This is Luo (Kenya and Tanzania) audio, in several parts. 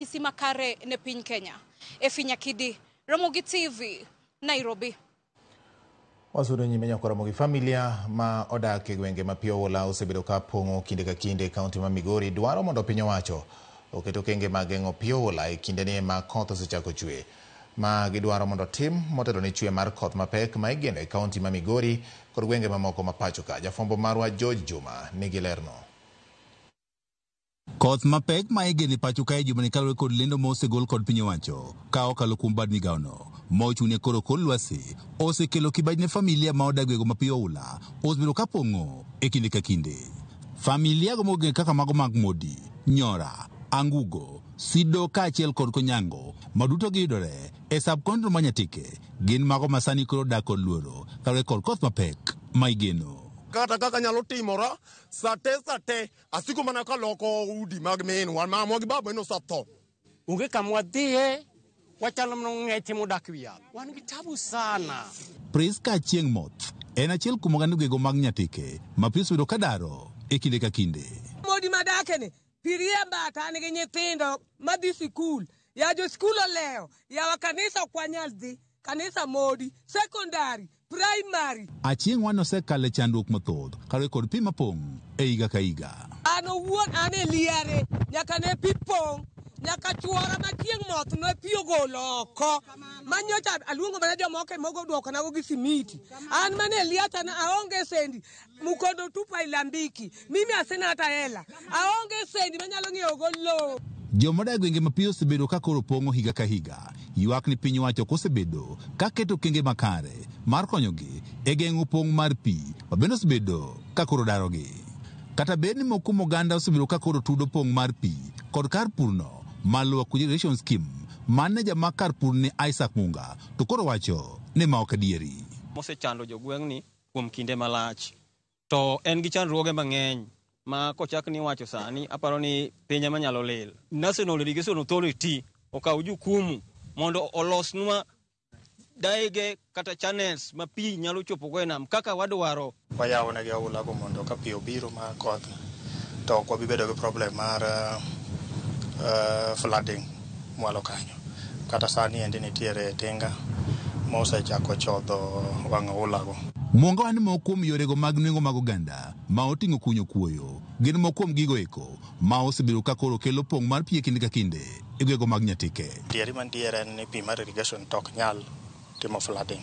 Ranyisi makare ne piny Kenya. Efi Nyakidi, Ramogi TV, Nairobi. Wasudo nyime nyako Ramogi familia ma odak e gwenge ma pi oula osebedo ka pong'o kinde ka kinde e kaunti ma Migori dwaro mondo piny owacho oket okenge mag geng'o pi oula e kindeni ma koth osechako chwe. Ma gidwaro mondo tim motelo ne chwe mar koth mapek ma igeno e kaunti ma Migori kod gwenge mamoko ma pachoka. Jafwambo marwa George Juma nigi lerno. Koth mapek ma igeno e pacho kae jumani kaluwore kod lendo ma osegol kod piny owacho ka okalo kuom bad migawono ma ochung'ne koro kor lwasi osekelo kibaji ne familia ma odagiego ma pi oula osebedo ka pong'o e kinde ka kinde. Familiago ma ogeng'o kaka mago mag Modi, Nyora, Angugo, Sido kaachiel kod Konyango ma duto giyudore e sub-countyno ma Nyatike gin mago ma sani koro odak kod luoro kaluwore kod koth mapek ma igeno. Kata kaka nyalo timora, sate sate Asiko mana ka loko udi mag minwa ma mwa gi baba nosetho. Onge kama wadhiye, wachalo mana ong'eche modak e wi yath. Wan gi tabu sana. Prisca Achieng' Moth en achiel kuom oganda ogego mag Nyatike ma pi osebedo ka daro e kinde ka kinde. Modi madakeni, pi riemba to an gi nyithindo madhi sikul. Ya josikul olewo, yawa kanisa ok wanyal dhi. Kanisa modi, sekondari, praimari. Achieng' wan osekalo e chandruok mathoth kaluwore kod pi mapong' e higa ka higa. An owuon an e liare nyaka ne pi pong' nyaka chwora ma chieng' moth ne pi ogolo oko manyocha aluongo mana jomoko e mogo duokonago gi simiti an mana e liata na aonge sendi Mukondo tupa ilambiki. Mimi asina hata hela. Aonge sendi manyalo ng'iewo go lowo. Joma odak e gwenge mapiyo osebedo ka koro pong'o higa ka higa. Ywak ni piny owacho ok osebedo ka keto okenge makare mar konyogi e geng'o pong' mar pi ma bende osebedo ka koro darogi. Kata bed ni moko kuom oganda osebedo ka koro tudo pong' mar pi kod kar purno mar Lower Kuja Irrigation Scheme, maneja mag kar purni Isaac Munga to koro wacho ni ma ok adieri. mosechando jogweng'ni. kuom kinde malach to en gi chandruoge mang'eny ma kochak ni wacho sani aparo ni piny ema nyalo lil. National Irrigation Authority okaw jukumu mondo olosnwa daige kata channels ma pi nyalo chopogo e nam kaka wadwaro. Wayawo negi aulago mondo ka pi obiro ma koth to ok wabibedo gi problem mar uh, flooding. mwalo kanyo. Kata sani endi nitiere tinga mosechako chodho wang' oulago. Mwonga wa ni moko kuom yorego mag nwengo mag oganda ma oting'o kunyo kuoyo gin moko kuom gigo eko ma osebedo ka koro kelo pong' mar pi e kinde ka kinde e gwego mag Nyatike. Adieri mantiere en ni pi mar irrigation to ok nyal timo flooding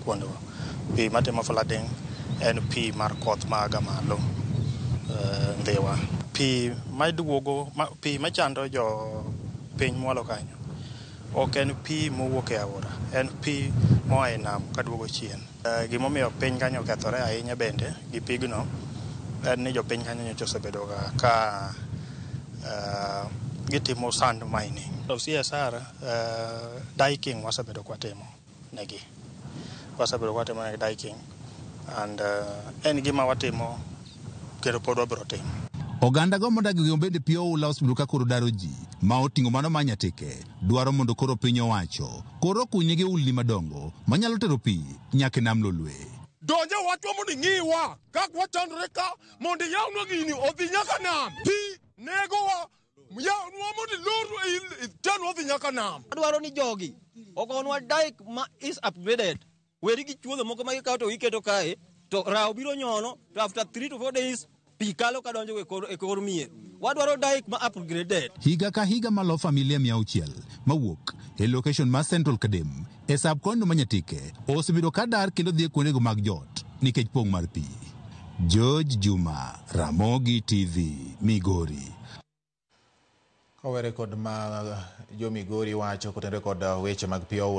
kuondgo. Pi matimo flooding en pi mar koth maaga malo eh, Ndhiwa. Pi maduogo, ma, pi machando jo piny mwalo kanyo ok en pi mowuok e aora, en pi moa e nam kaduogo chien. Eh, Gimomiyo piny kanyo okethore ahinya bende gi pigno en ni jopiny kanyo nyocha osebedoga ka eh, gitimo sand mining. Of CSR Uh, diking wasebedo kwatimo negi wasebedo kwatimo negi diking and uh, en gima watimo kendo pod wabiro timo Oganda go modak gi ombende pi oula osebedo ka koro daro ji ma oting'o mano ma nyateke dwaro mondo koro piny owacho koro okunygi ulni madongo manyalo tero pi nyaka e nam lolwe. donje watwa mondo ing'iwa kak wachandore ka mondo iyawnwa gini odhi nyaka nam pi negowa Adwaro ni jogi ogonwa dike ma is upgraded. Weri gi chuodho moko ma gikawo to giketo kae to rawo biro nyono to after 3 to 4 days pi kalo ka donjo e kor mier. Wadwaro dike ma upgraded. Higa ka higa malo familia mia auchiel mawuok e location ma Central Kadem E sab kono ma Nyatike osebedo ka dar kendo dhi e kuondego mag jot nikech pong' mar pi. George Juma, Ramogi TV, Migori. Kowere kod ma jo Migori wacho kotenore kod weche mag pi oula.